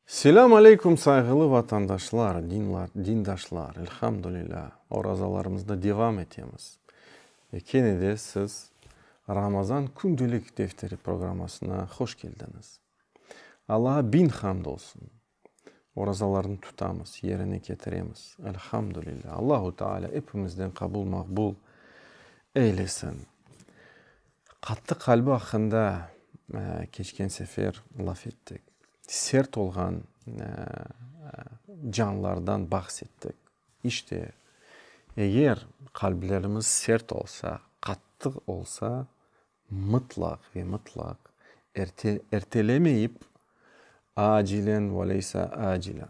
Selâm aleyküm sayğılı vatandaşlar, dindaşlar, elhamdülilâ, orazalarımızda devam etemiz. Ve kene de siz Ramazan kündelik defteri programmasına hoş keldiñiz. Allağa biñ hamd olsun, orazalarnı tutamız, yerine ketiremiz, elhamdülilâ. Allahu Teala epimizden qabul-maqbul eylesin. Qattı qalbi aqqında keçken sefer laf ettik. Sert olğan canlardan bahs ettik. İşte, eger qalblerimiz sert olsa, qattı olsa, mıtlaq ve mıtlaq ertelemeyip, acilen ve leysa acilen.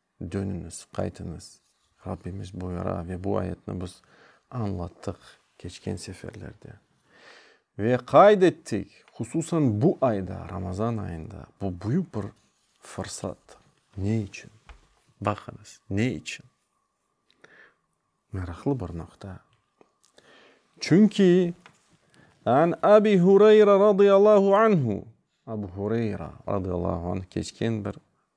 Dönüñiz, qaytıñız, Rabbimiz buyura ve bu ayetni biz añlattıq keçken seferlerde. Ve qayd ettik, hususan bu ayda, Ramazan ayında, bu büyük bir fırsatdır. Ne içün? Baqıñız, ne içün? Meraqlı bir noqta. Çünki, An Abi Hureyra radıyallahu anhu, Abu Hureyra radıyallahu anh, keçken bir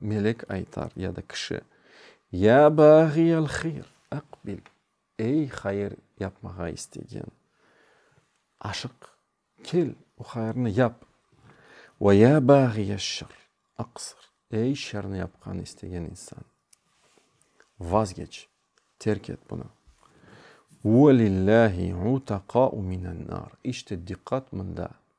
Melek aytar, ya da kişi, Ya bâğiyel hıyr, aqbil, Ey, hayır yapmağa istegen, aşıq, kel, o hayırnı yap. Ve ya bâğiyel şer, aqsır, Ey, şerni yapqan istegen insan, vazgeç, terk et bunı. Ve lillâhi utaqâ'u minennâr, işte diqqat mında,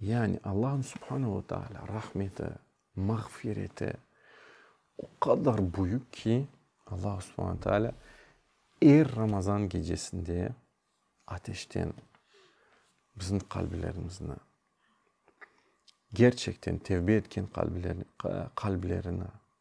Yani Allahnıñ Subhana ve Taala rahmeti, mağfireti o qadar büyük ki, Allah Subhana Taala er Ramazan gecesinde ateşten bizim qalblerimizni, gerçekten tevbe etken qalblerini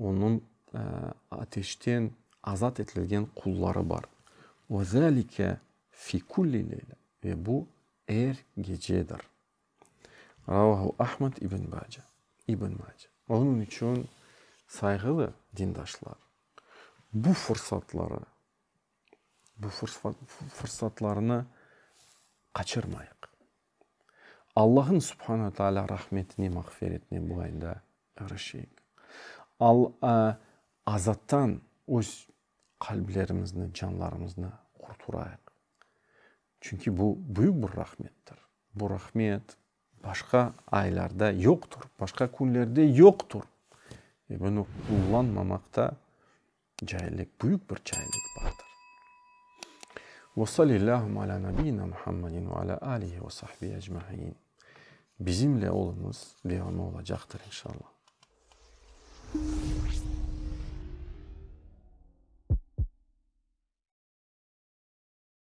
Onıñ ateşten azat etilgen qulları bar. Ve zâlike fi kulli leyle, ve bu, er gecedir. Ravahu Ahmed ibn Bace, İbn Mace. Onıñ içün, sayğılı dindaşlar, bu fursatları, bu fursatlarnı qaçırmayıq. Allahın Subhan ve Taala rahmetine, mağfiretine bu ayda erişeyik. Al-a azattan öz qalblerimizni, canlarımıznı qurturayıq. Çünki bu büyük bir rahmettir. Bu rahmet başqa aylarda yoqtur, başqa künlerde yoqtur. Ve bunı qullanmamaqta Caillik, büyük bir caillik bardır. Ve sallillâhum alâ nabiyyina Muhammedin ve alâ âlihi ve sahbihi ecmâin. Bizimle oluñız, devamı olacaqtır, inşallah.